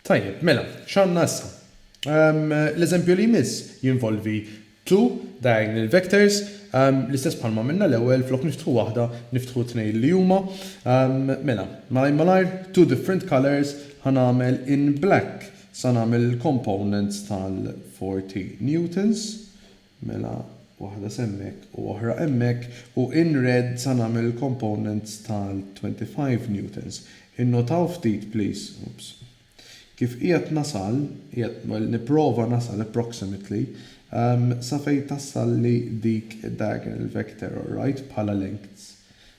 Tajjeb, mela, x'għandna issa? Ehm, l-eżempju li jmiss jinvolvi two diagonal vectors, ehm, l-istess bħalma minna l-ewwel flok niftħu waħda, niftħu tnejn li huma. Ehm, mela, malaj malajr, two different colors ħanamel in black. Sa nagħmel il-components tal-40 newtons, mela waħda s'hemmhekk u oħra hemmhekk, u in red sa nagħmel il-components tal-25 newtons. Innotaw ftit please, oops, kif qiegħed nasal, qiegħed nipprova nasal approximately, sa fejn tassalli dik id-diagonal vector, alright, bħala lengths.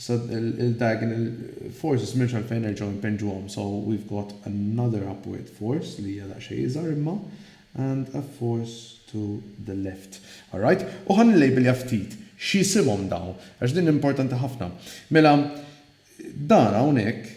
Issa il-diagonal forces m'hemmx għalfejn nerġgħu npinġuhom so we've got another upward force li hija daqsxejn iżgħar imma and a force to the left. Alright, u ħa nillejbilja ftit x'jisimhom dawn għax din importanti ħafna. Mela dan hawnhekk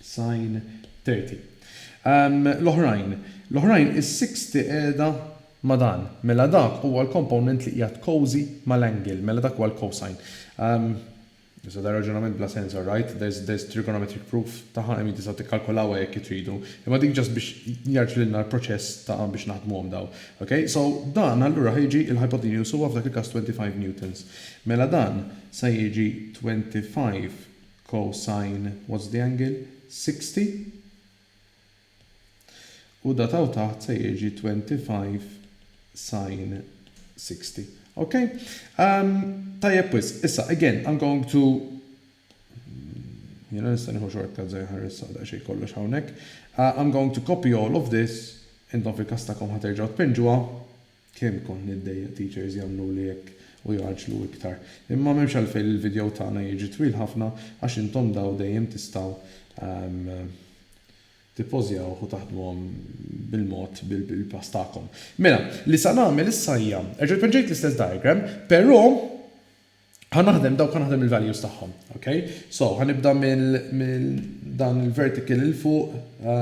Sign 30. L-oħrajn, l-oħrajn, is-sixty qiegħda ma' dan. Mela dak huwa l-component li qiegħed cozy ma' l-angle. Mela dak huwa l-cosine. Issa dan raġunament bla sens alright, there's there's trigonometric proof tagħha qegħdin tistgħu tikkalkulawha jekk tridu. Imma dik just biex jgħarrflilna l-proċess ta' biex naħdmuhom dawn. Ok? So dan allura ħa jiġi l-hypotenuse huwa f'dak il-każ twenty five newtons. Mela dan sa jiġi twenty five Cosine what's the angle? 60 u dat hawn taħt se jiġi 25 sine 60. Ok? Tajjeb wisq, issa again I'm going to jiena nista' nieħu shortcuts ejja nħares għal daqsxejn kollox hawnhekk. I'm going to copy all of this, intom fil-każ tagħkom ħa terġgħu tpinġuha. Kemm kont niddejjaq teachers jagħmluli hekk u jgħaġġlu iktar. Imma m'hemmx għalfejn li l-video tagħna jiġi twil ħafna għax intom daw dejjem tistgħu tippożjawh u taħdmuhom bil-mod bil-pass tagħkom. Mela, li sa nagħmel issa hija, erġa' poġġejt l-istess diagram, però Ħa naħdem dawk ħa naħdem il-values tagħhom, ok? So, ħa nibda minn dan il-vertical il fuq,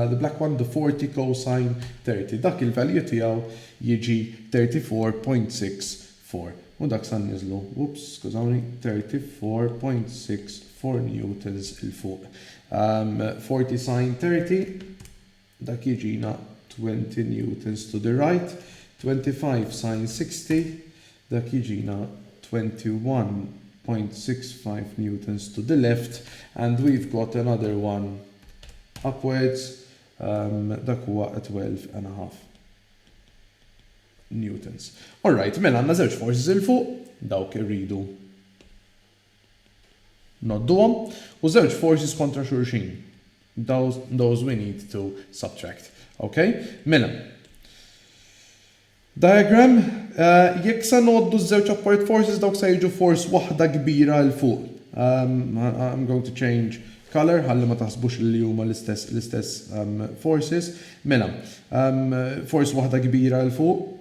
the black one, the 40 cosine 30. Dak il-value tiegħu jiġi 34.64 u dak sa nniżlu, whoops, skużawni, 34.64 newtons il fuq. 40 sine 30 Dak jiġina twenty newtons to the right, twenty five sin sixty, dak jiġina twenty one point six five newtons to the left and we've got another one upwards, dak huwa a twelve and a half newtons. All right, mela għandna żewġ forces 'il fuq, dawk irridu ngħodduhom, u żewġ forces kontra xulxin, those we need to subtract. Ok? Mela. Diagram, Jekk se ngħoddu ż-żewġ apart forces dawk se jiġu force waħda kbira 'l fuq. I'm going to change colour ħalli ma taħsbux li huma l-istess forces. Mela, force waħda kbira 'l fuq,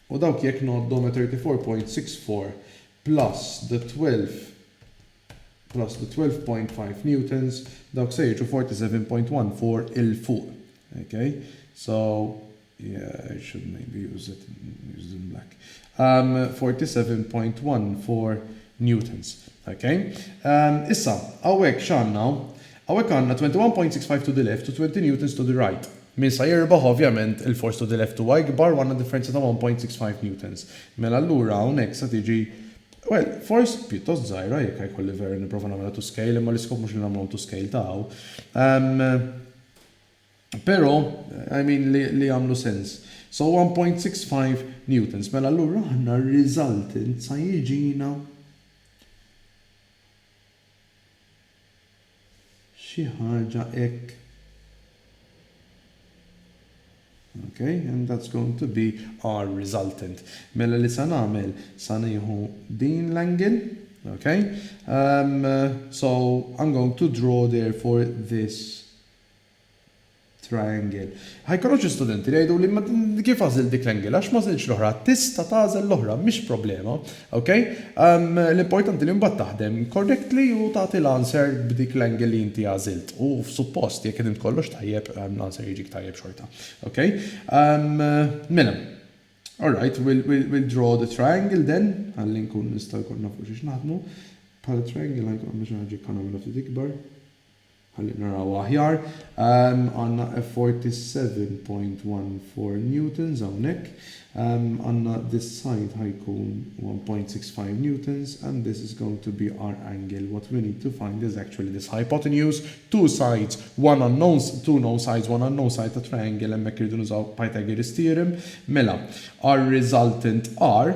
u dawk jekk ngħoddhom a 34.64 plus the 12 plus the 12.5 newtons dawk se jiġu 47.14 'il fuq. Ok? So, yeah, I should maybe use it use it in black. Um, 47.14 newtons. Ok? Um, issa, hawnhekk x'għandna? Hawnhekk għandna 21.65 to the left u 20 newtons to the right. Min sa jirbaħ ovvjament il-force to the left huwa ikbar u għandna differenza ta' 1.65 newtons. Mela allura hawnhekk sa tiġi, well, force pjuttost żgħira jekk ħa jkolli veru nipprova nagħmilha to scale imma l-iskop mhux li nagħmluhom to scale ta' hawn. Però, I mean li jagħmlu sens. So 1.65 newtons. Mela allura aħna r-resultant sa jiġina, Xi ħaġa hekk. Ok, and that's going to be our resultant. Mela li sa nagħmel, sa nieħu din l-angle, ok? Um, so I'm going to draw therefore this triangle. Ħa jkollok xi studenti li jgħiduli ma kif għażilt dik l-angle għax m'għażiltx l-oħra. Tista' tagħżel l-oħra mhix problema. Ok? L-importanti li mbagħad taħdem correctly u tagħti l-answer b'dik l-angle li inti għażilt. U suppost jekk ħdimt kollox tajjeb l-answer jiġik tajjeb xorta. Ok? Mela. Alright, we'll draw the triangle then ħalli nkun nista' jkun naf fuq xiex naħdmu. Bħala triangle ħa jkollna xi ħaġa jkollna minha ftit ikbar. Ħalli naraw aħjar. Għandna effort ta' 7.14 newtons hawnhekk. Għandna this side ħa jkun 1.65 newtons and this is going to be our angle. What we need to find is actually this hypotenuse, two sides, one unknown, two known sides, one unknown side ta' triangle, hemmhekk irridu nużaw Pythagoras theorem. Mela, our resultant are.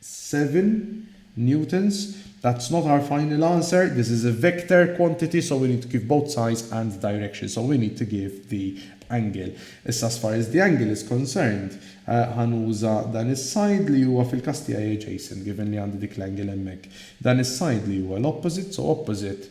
7 newtons, that's not our final answer, this is a vector quantity so we need to give both size and direction, so we need to give the angle. Issa as far as the angle is concerned, ħa nuża dan is-side li huwa fil-każ tiegħi adjacent, given li għandi dik l-angle hemmhekk. Dan is-side li huwa l-opposite, so opposite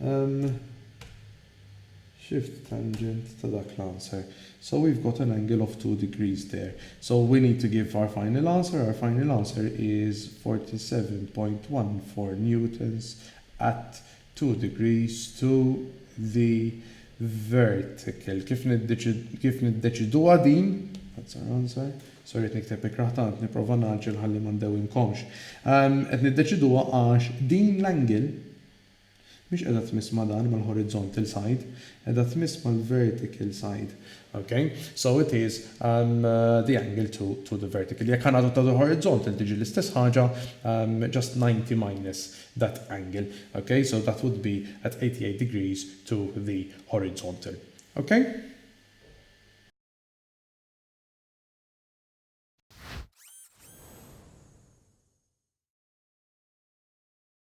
Hemm shift tangent ta' dak l-answer. So we've got an angle of two degrees there. So we need to give our final answer, our final answer is 47.14 newtons at two degrees to the vertical. Kif kif niddeċiduha din? That's our answer. Sorry qed nikteb ikrah tant nipprova ngħaġġel ħalli ma ndewwimkomx. Qed niddeċiduha għax din l-angle Mhix qiegħda tmiss ma' dan, mal-horizontal side, qiegħda tmiss mal-vertical side. Ok, so it is the angle to to the vertical. Jekk ħa ngħidu to the horizontal tiġi l-istess ħaġa, just 90 minus that angle. Ok, so that would be at 88 degrees to the horizontal. Ok?